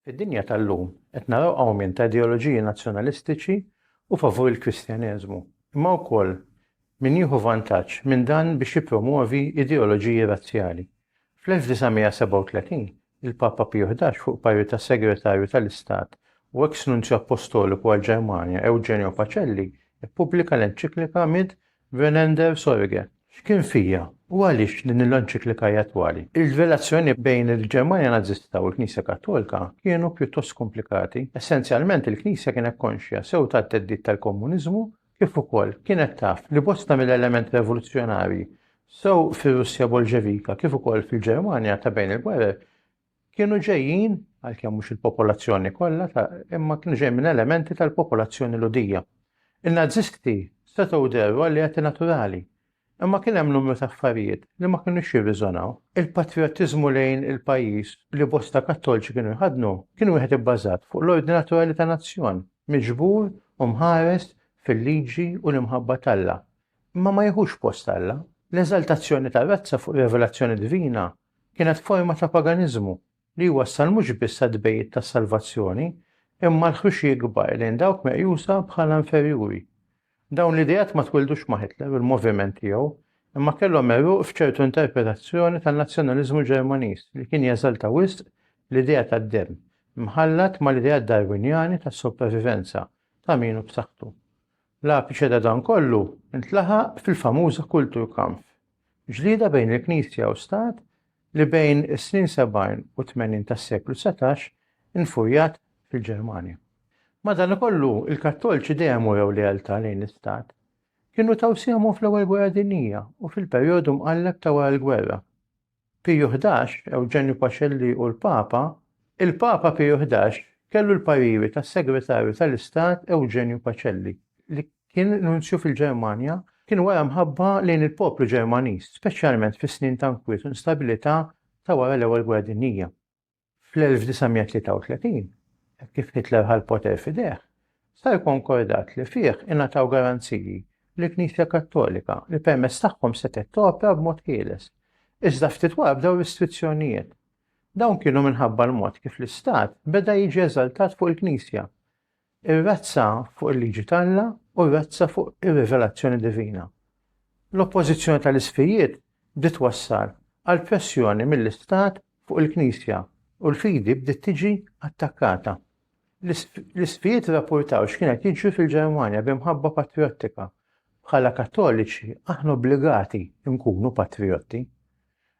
Fid-dinja tal-lum qed naraw awmient ta' ideoloġiji nazzjonalistiċi u favur il-Kristjaneżmu, imma wkoll min jieħu vantaġġ minn dan biex jippromwovi ideoloġiji razzjali. Fl-1937, il-Papa Piju Ħdax fuq parir tas-Segretarju tal-Istat u eks Nunzju Appostoliku għall-Ġermanja Eugenio Pacelli ppubblika l-enċiklika Mid Venander Sorge, X'kien fija, u għaliex din il-enċiklika hi attwali? Ir-relazzjonijiet bejn il-Ġermanja Nażista u l-Knisja Kattolika kienu pjuttost komplikati. Essenzjalment il-Knisja kienet konxja sew tat-theddid tal-Komuniżmu kif ukoll kienet taf li bosta mill-elementi revoluzzjonarji sew fir-Russja Bolxevika kif ukoll fil-Ġermanja ta' bejn il-gwerer Kienu ġejjin, għalkemm mhux il-popolazzjoni kollha, imma kienu ġejjin minn elementi tal-popolazzjoni Lhudija. In-Nazisti setgħu dehru alleati naturali, imma kien hemm numru ta' affarijiet li ma kinux jirriżonaw. Il-patrijottiżmu lejn il-pajjiż li bosta Kattolċi kienu jħaddnu kien wieħed ibbażat fuq l-ordni naturali ta' nazzjon, miġbur u mħares fil-liġi u l-imħabba t'Alla, imma ma jieħux post Alla. L-eżaltazzjoni tar-razza fuq rivelazzjoni divina kienet forma ta' paganiżmu li jwassal mhux biss għat-tbegħid tas-salvazzjoni, imma għal ħruxi kbar lejn dawk meqjusa bħala inferjuri. Dawn l-ideat ma twildux ma' Hitler u l-moviment tiegħu, imma kellhom għeruq f'ċertu interpretazzjoni tan-nazzjonaliżmu Ġermaniż li kien jeżalta wisq l-idea tad-demm, mħallat mal-ideat Darwinjani tas-sopravivenza ta' min hu b'saħħtu. L-apiċe ta' dan kollu ntlaħaq fil-famuża Kulturkampf, ġlieda bejn il-Knisja u Stat li bejn is-snin sebgħin u tmenin tas-seklu dsatax infurjat fil-Ġermanja. Madanakollu, il-Kattolċi dejjem urew lealtà lejn l-Istat. Kienu taw sehemhom fl-Ewwel Gwerra Dinjija u fil-perjodu mqalleb ta' wara l-gwerra. Piju Ħdax, Ewġenju Pacelli u l-Papa, Il-Papa Piju Ħdax kellu l-pariri tas-Segretarju tal-Istat Ewġenju Pacelli, li kien Nunzju fil-Ġermanja, kien wara mħabba lejn il-poplu Ġermaniż, speċjalment fis-snin ta' nkwiet u instabilità ta' wara l-Ewwel Gwerra Dinjija. Fl-1933, hekk kif Hitler ħa l-poter f'idejh, sar konkordat li fih ingħataw garanziji lill-Knisja Kattolika li permezz tagħhom setgħet topra b'mod ħieles. Iżda ftit wara bdew restrizzjonijiet. Dawn kienu minħabba l-mod kif l-Istat beda jiġi eżaltat fuq il-Knisja. ir-razza fuq il-liġi t'Alla u r-razza fuq ir-rivelazzjoni divina. L-oppożizzjoni tal-isqfijiet bdiet twassal għal pressjoni mill-istat fuq il-Knisja u l-fidi bdiet tiġi attakkata. L-isqfijiet irrappurtaw x'kien qed jiġri fil-Ġermanja b'imħabba patrijottika. Bħala Kattoliċi aħna obbligati nkunu patrijotti.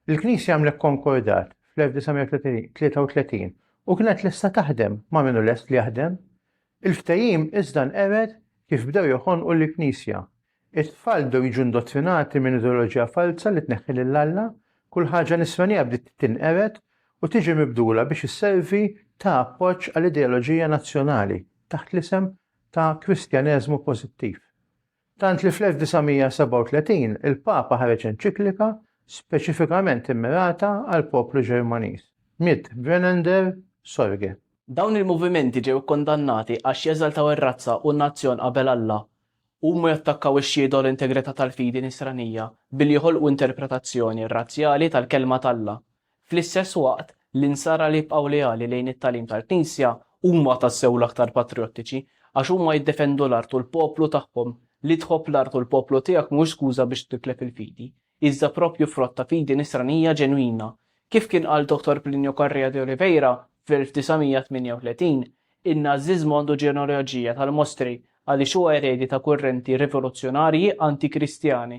Il-Knisja għamlet konkordat fl-1933 u kienet lesta taħdem ma' min hu lest li jaħdem. Il-ftehim iżda nqered kif bdew joħonqu l-Knisja. It-tfal bdew jiġu indottrinati minn ideoloġija falza li tneħħi lil Alla, kull ħaġa nisranija bdiet tinqered u tiġi mibdula biex isservi ta' appoġġ għal ideoloġija nazzjonali taħt l-isem ta' Kristjaneżmu pożittiv. Tant li fl-1937 il-Papa ħareġ enċiklika speċifikament immirata għall-poplu Ġermaniż, Mit brennender Sorge. Dawn il-movimenti ġew ikkundannati għax jeżaltaw ir-razza u n-nazzjon qabel Alla, huma jattakkaw ix-xhieda u l-integrità tal-fidi Nisranija billi joħolqu interpretazzjoni razzjali tal-Kelma t'Alla, Fl-istess waqt, l-Insara li jibqgħu leali lejn it-tagħlim tal-Knisja huma tassew l-aktar patrijottiċi, għax huma jiddefendu l-art u l-poplu tagħhom. Li tħobb l-art u l-poplu tiegħek mhux skuża biex titlef il-fidi, iżda proprju frott ta' fidi nisranija ġenwina. Kif kien qal Dottor Plinio Correa de Oliveira fl-1938, in-Nażiżmu għandu ġenealoġija tal-mostri għaliex huwa eredi ta' kurrenti rivoluzzjonarji anti-Kristjani.